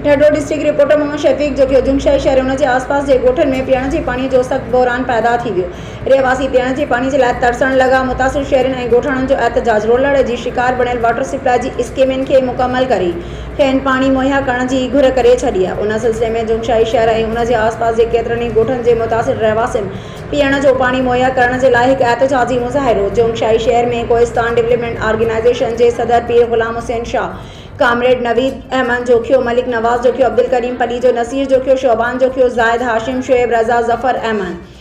ڍڍو district reporter Muhammad Shafiq جو ڪيو جمشيد شهر ۽ ان جي آس پاس جي ڳوٺن ۾ پيئڻ جي پاڻي جو سخت بحران پيدا ٿي ويو رهواسي پيئڻ جي پاڻي جي لاء ترسڻ لڳا متاثر شهرين ۽ ڳوٺاڻن جو احتجاج رولڙ جي شڪار بڻيل واٽر سپلاء جي اسڪيمن کي مڪمل ڪري کين پاڻي مهيا ڪرڻ جي گهر ڪري ڇڏي آهي ان سلسلي ۾ جمشيد شهر ۽ ان جي آس پاس جي ڪيترن ئي ڳوٺن جي متاثر رهواسين پيئڻ جو پاڻي مهيا ڪرڻ جي لاء هڪ احتجاجي مظاهرو جمشيد شهر ۾ ڪوهستان ڊولپمينٽ آرگنائيزيشن جي صدر پير غلام حسين شاهه ڪامريڊ نويد احمد جوکيو، ملڪ نواز جوکيو، عبدالڪريم پليجو، نصير جوکيو، شعبان جوکيو، زاهد هاشم، شعيب رضا، ظفر احمد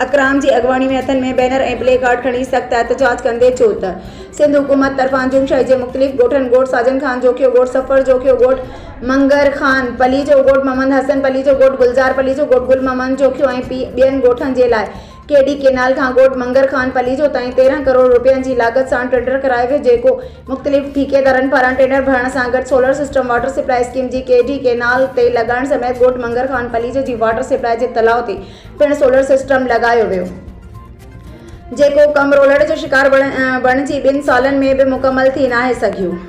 اڪرام جي اڳواڻي ۾ هٿن ۾ بينر ۽ پلي ڪارڊ کڻي سخت احتجاج ڪندي چيو ته سنڌ حڪومت طرفان جوم شاهي جي مختلف ڳوٺن ڳوٺ ساجن خان جوکيو، ڳوٺ سفر جوکيو، ڳوٺ منگر خان پليجو، ڳوٺ محمد حسن پليجو، ڳوٺ گلزار پليجو، ڳوٺ گل محمد جوکيو ۽ ٻين ڳوٺن جي لاء ڪي ڊي ڪينال کان ڳوٺ منگر خان پليجو تائين تيرهن ڪروڙ رپين جي لاڳت سان ٽينڊر ڪرايو ويو جيڪو مختلف ٺيڪيدارن پاران ٽينڊر ڀرڻ سان گڏ solar system water supply scheme جي ڪي ڊي ڪينال تي لڳائڻ سميت ڳوٺ منگر خان پليجو جي واٽر سپلاء جي تلاء تي پڻ سولر سسٽم لڳايو ويو جيڪو ڪم رولڙ جو شڪار بڻجي ٻن سالن ۾ به مڪمل ٿي ناهي سگهيو.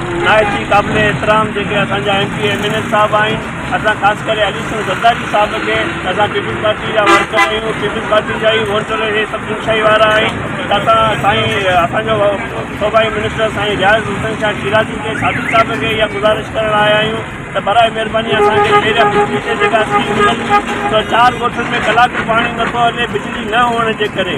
نهايتي قابل احترام جيڪي اسان جا M P M N A صاحب آهن اسان خاص ڪري علي حسن زرداري صاحب کي اسان پيپلز پارٽي جا ورڪر آهيون پيپلز پارٽي جا ئي ووٽ ڏئي اهي سڀ دلشائي وارا آهن ته اسان سائين اسان جو صوبائي منسٽر سائين رياض حسين شاهه شيرازي کي صادق صاحب کي اها گذارش ڪرڻ آيا آهيون ته براء مهرباني اسان کي پهريان بجلي جي جيڪا اسڪيم ملندي ته چار ڳوٺن ۾ ڪلاڪ به پاڻي نٿو هلي بجلي نه هئڻ جي ڪري